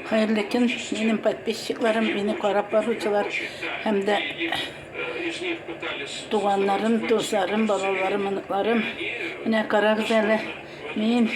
Хәерле көн, минем подписчикларым, мине карап баручылар һәм дә туганнарым, дусларым, балаларым, оныкларым. Менә карагыз әле, мин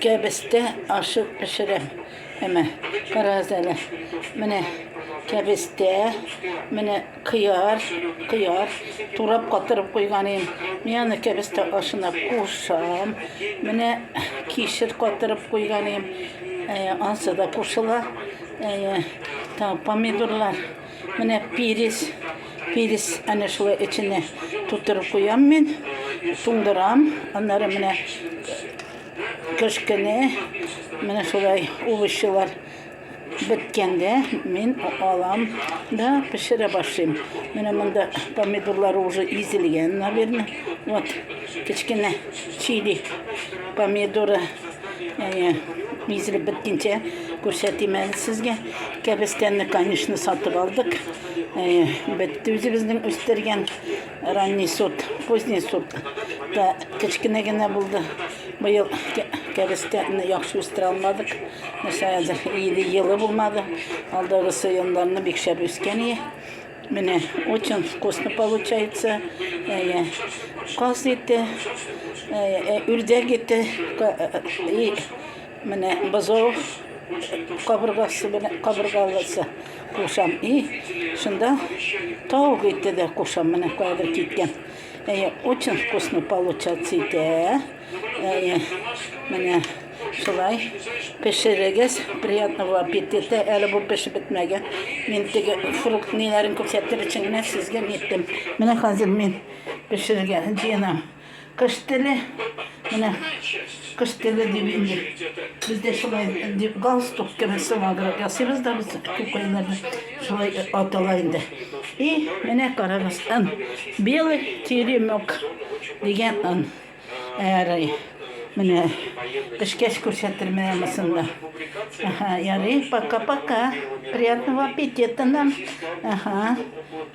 кәбестә ашы пешерәм. Әмә карагыз әле. Менә кәбестә, менә Кыяр, кыяр турап катырып куйган идем. Мин аны кәбестә ашына кушам. Менә кишер катырып куйган идем. Ә, ансы да кушыла. Ә, та, помидорлар. Менә перец. Перец әнә шулай эченә тутырып куям мин. Туңдырам. Аннары менә кешкене, менә шулай овощилар Беткәндә мин алам да пешерә башлыйм. Менә монда помидорлар уже изелгән, наверное. Вот, кечкенә чили помидоры. Әйе, изелеп беткенчә күрсәтим әле сезгә. Кәбестәне, конечно, сатып алдык. Әйе, бетте үзебезнең үстергән ранний сорт, поздний сорт. Та кечкенә генә булды. Быел кәрестәне яхшы үстерә алмадык. Нәрсәгә иде елы булмады. Алдагысы елларны бик шәп үскән ие. Менә очень вкусно получается. Әйе. Каз ите, әйе, үрдәк ите, и менә бозау кабыргасы белән кабыргалысы кушам. И шунда тау ите дә кушам. Менә кадер киткән. Әйе, очень вкусно получаться итә. Әйе, менә шулай пешерегез. Приятного аппетита. Әле бу пешеп бетмәгән. Мин теге фрукт ниләрен күрсәтер өчен генә сезгә ниттем. Менә хәзер мин пешерергә җыенам. Кыш теле, менә кыш теле дип инде. Бездә шулай дип галстук кебек сымаграк ясыйбыз да без күкәйләрне. Шулай атала инде. И, менә карагыз, ын. Белый теремок дигән ын. Ярый. Менә пешкәч күрсәтермен анысын да. Ага, ярый, пока-пока. Приятного аппетита нам. Ага.